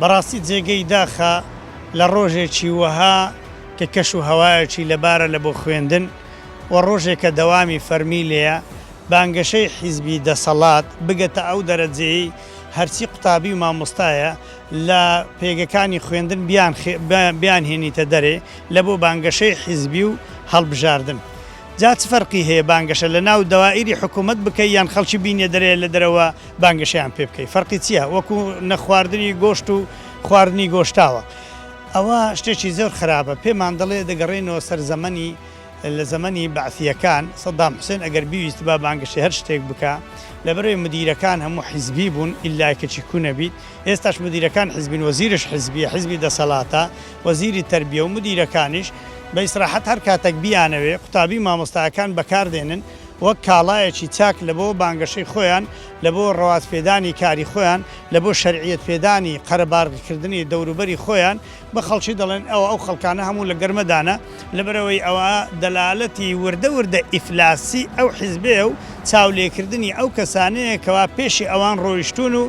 بەڕاستی جێگەی داخە لە ڕۆژێکی وەها کە کەش و هەوایەکی لەبارە لە بۆ خوێندن و ڕۆژێکە دەوامی فەرمی لێیە بانگەشەی حیزبی دەسەڵات بگەتە ئەو دەرەجەیەی هەرچی قوتابی و مامۆستایە لە پێگەکانی خوێندن بیانهێنیتە دەرێ لە بۆ بانگەشەی حیزبی و هەڵبژاردن. جا چ فەرقی هەیە بانگەشە لە ناو دەوائیری حکوومەت بکەی یان خەڵکی بینێدرێ لە دەرەوە بانگەشەیان پێ بکەی فەرقی چییە وەکوو نەخواردنی گۆشت و خواردنی گۆشتاوە ئەوە شتێکی زۆر خراپە پێمان دەڵێ دەگەڕێینەوە سەر زەمەنی لە زەمەنی بەعسییەکان سەدام حوسێن ئەگەر بیویستبا بانگەشەی هەر شتێک بکا لەبەرەی مدیرەکان هەموو حیزبی بوون ئیللا کەچی کوو نەبیت ئێستاش مدیرەکان حیزبین وەزیرش حیزبییە حیزبی دەسەڵاتە وەزیری تەربیە و مودیرەکانیش بە ئیسراحەت هەر کاتەک بیانەوێ قوتابی مامۆستایەکان بەکار دێنن وەک کاڵایەکی چاک لە بۆ بانگەشەی خۆیان لە بۆ ڕەوات پێدانی کاری خۆیان لە بۆ شەرعیەت پێدانی قەرەبارغ کردنی دەوروبەری خۆیان بە خەڵکی دەڵێن ئەوە ئەو خەڵکانە هەموو لە گەرمەدانە لەبەر ئەوەی ئەوە دەلالەتی وردە وردە ئیفلاسی ئەو حیزبەیە و چاو لێکردنی ئەو کەسانەیە کەوا پێشی ئەوان ڕۆیشتوون و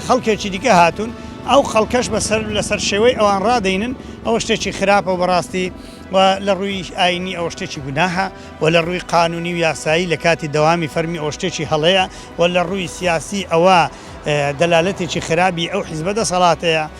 خەڵکێکی دیکە هاتوون ئەو خەڵکەش بەسەر لەسەر شێوەی ئەوان ڕادەینن ئەوە شتێکی خراپە بەڕاستی و لە ڕووی ئاینی ئەوە شتێکی گوناهە و لە ڕووی قانونی و یاسایی لە کاتی دەوامی فەرمی ئەوە شتێکی هەڵەیە و لە ڕووی سیاسی ئەوە دەلالەتێکی خرابی ئەو حیزبە دەسەڵاتەیە.